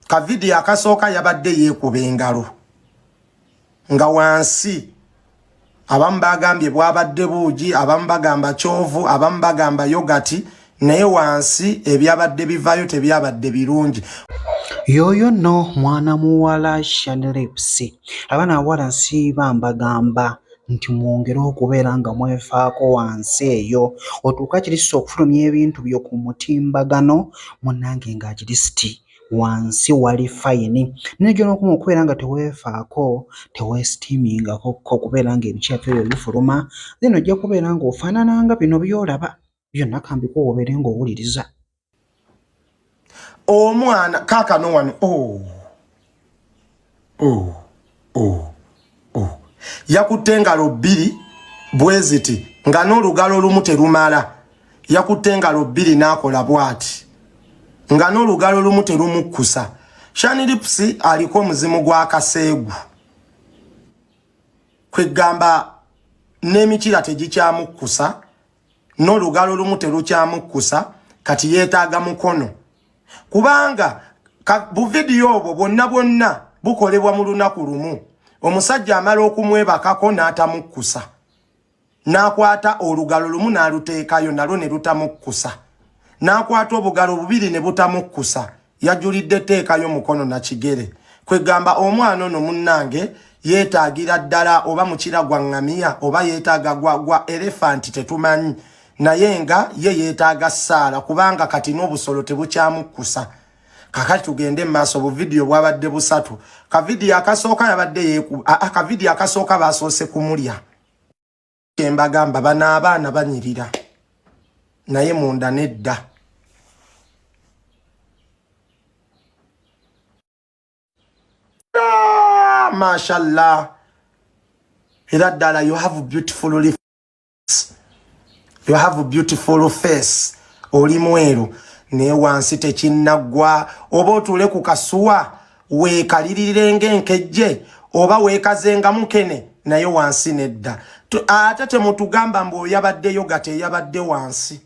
ka vidiyo akasooka yabadde yeekuba engalo nga wansi abamu bagambye bwabadde buugi abamu bagamba kyovu abamu bagamba yogati naye wansi ebyabadde bivaayo tebyabadde birungi yoyo no mwana muwala shanlips abana awala nsiiba mbagamba nti mwongere okubeera nga mwefaako wansi eyo otuuke akirisiti okufulumya ebintu byo ku mutimbagano munange nga akirisiti wansi wali fayini naye gyonokoma okubeera nga teweefaako teweesitiimingako okubeera nga ebikyapa ebyo bifuluma then ojja kubeera nga ofaanana nga bino by'olaba. byonna kambikuwa obeere ng'owuliriza omwana kaakano wano o oh. o oh. o oh. o oh. yakutte engalo bbiri bweziti nga n'olugalo olumu terumala yakutte engalo bbiri n'akola bwati nga n'olugalo olumu terumukkusa shanilipusi aliko omuzimu gwa kaseegu kwegamba n'emikira tegikyamukkusa n'olugalo lumu terukyamukkusa kati yeetaaga mukono kubanga buvidiyo obwo bwonna bwonna bukolebwa mu lunaku lumu omusajja amala okumwebakako n'atamukkusa n'akwata olugalo lumu n'aluteekayo nalwo ne lutamukkusa n'akwata obugalo bubiri ne butamukkusa yajulidde teekayo mukono na kigere kwegamba omwana ono munnange yeetaagira ddala oba mukira gwa ŋŋamiya oba yeetaaga gwa gwa elefanti tetumanyi naye nga ye yeetaaga ssaala kubanga kati n'obusolo tebukyamukkusa kakati tugende mumaaso buvidiyo bwabadde busatu kavidiyo akasooka yabadde yekuba akavidiyo akasooka baasoose kumulya kyembagamba bano abaana banyirira naye munda nedda ah, mashallah era ddala you have beautiful life you have a beautiful face oli mweru naye wansi tekinaggwa oba otuule ku kasuwa weekalirire ng'enkejje oba weekazenga mukene naye wansi nedda ate temutugamba mbu oyabaddeyo gate eyabadde wansi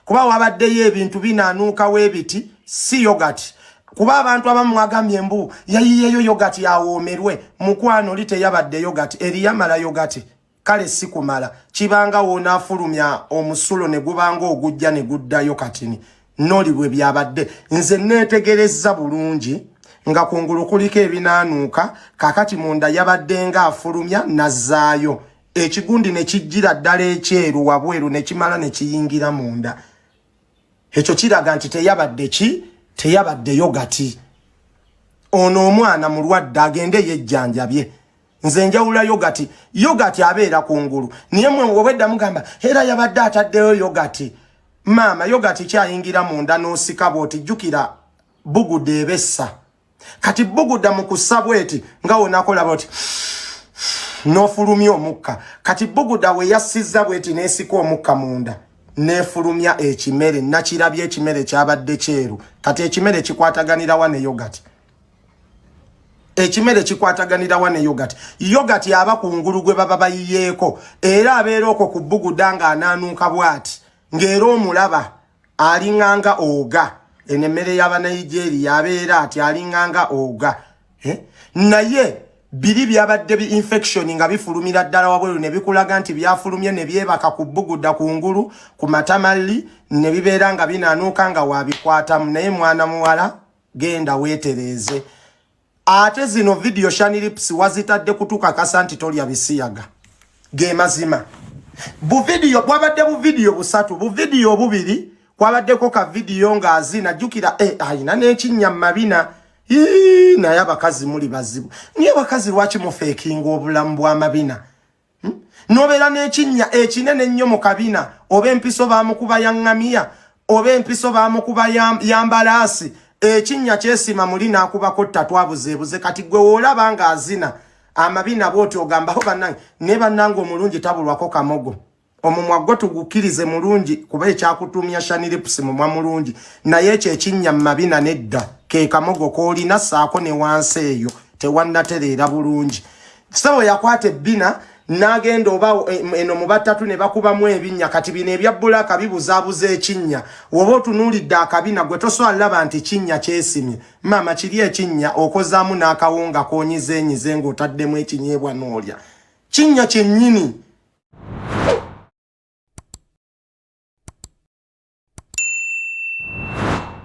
kuba wabaddeyo ebintu binaanuuka webiti si yogati kuba abantu abamu mwagambye mbu yayiyeyo yogati awoomerwe mukwano oli teyabadde yogati eriyamala yogati kale si kumala kibanga woonaafulumya omusulo ne gubanga ogujja ne guddayo katini noli bwe byabadde nze neetegerezza bulungi nga kungulu kuliko ebinaanuuka kakati munda yabadde nga afulumya nazzaayo ekigundi ne kijjira ddala ekyeru wabweru ne kimala ne kiyingira munda ekyo kiraga nti teyabadde ki teyabadde yogati ono omwana mulwadde agende yejjanjabye nze njawula yogati yogati abeera ku ngulu naye mwe obwedda mugamba era yabadde ataddeyo yogati maama yogati kyayingira munda n'osika bwoti jjukira buguda ebessa kati buguda mu kussa bweti nga wonakola bwoti n'ofulumya omukka kati buguda we yassizza bweti n'esika omukka munda n'efulumya ekimere nakirabya ekimere kyabadde kyeru kati ekimere kikwataganirawa ne yogati ekimere kikwataganira wa ne yogati yogati yaba ku ngulu gwe baba bayiyeeko era abeera okwo ku bbuguda ng'anaanuuka bw'ati ng'era omulaba alinganga oga eno emmere y'abanigeria abeera ati alinganga oga eh? naye biri byabadde bi infection nga bifulumira ddala wabweru ne bikulaga nti byafulumye ne byebaka ku bbuguda ku ngulu ku matamalli ne bibeera nga binaanuuka nga waabikwatamu naye mwana muwala genda wetereeze ate zino video shanilips wazitadde kutukakasa nti tolya bisiyaga ge mazima buvidiyo bwabadde buvidiyo busatu buvidiyo obubiri kwabaddeko ka vidiyo ng'azina jjukira eh, ayina n'ekinnya mu mabina naye abakazi muli bazibu naye abakazi lwaki mufeekinga obulamu bw'amabina hmm? nobeera n'ekinnya ekinene ennyo mu kabina oba empiso bamukuba ya ŋŋamiya oba empiso bamukuba ya mbalaasi ekinnya kyesiima muli n'akubako tatwabuzeebuze kati gwe woolaba ng'azina amabina bwoti ogambaho banange naye banange omulungi tabulwako kamogo omumwa gwo tugukkirize mulungi kuba ekyakutuumya shaniripusi mumwa mulungi naye ekyo ekinnya mu mabina nedda ke kamogo koolina saako ne wansi eyo tewannatereera bulungi kisabo yakwata ebbina n'agenda oba eh, eno mu batatu ne bakubamu ebinnya kati bino ebya bbulaaka bibuzaabuza ekinnya woba otunuulidde akabina gwe toswala laba nti kinnya kyesimye maama kiri ekinnya okozaamu n'akawunga konyizenyize ng'otaddemu ekinyeebwa n'olya kinnya kyennyini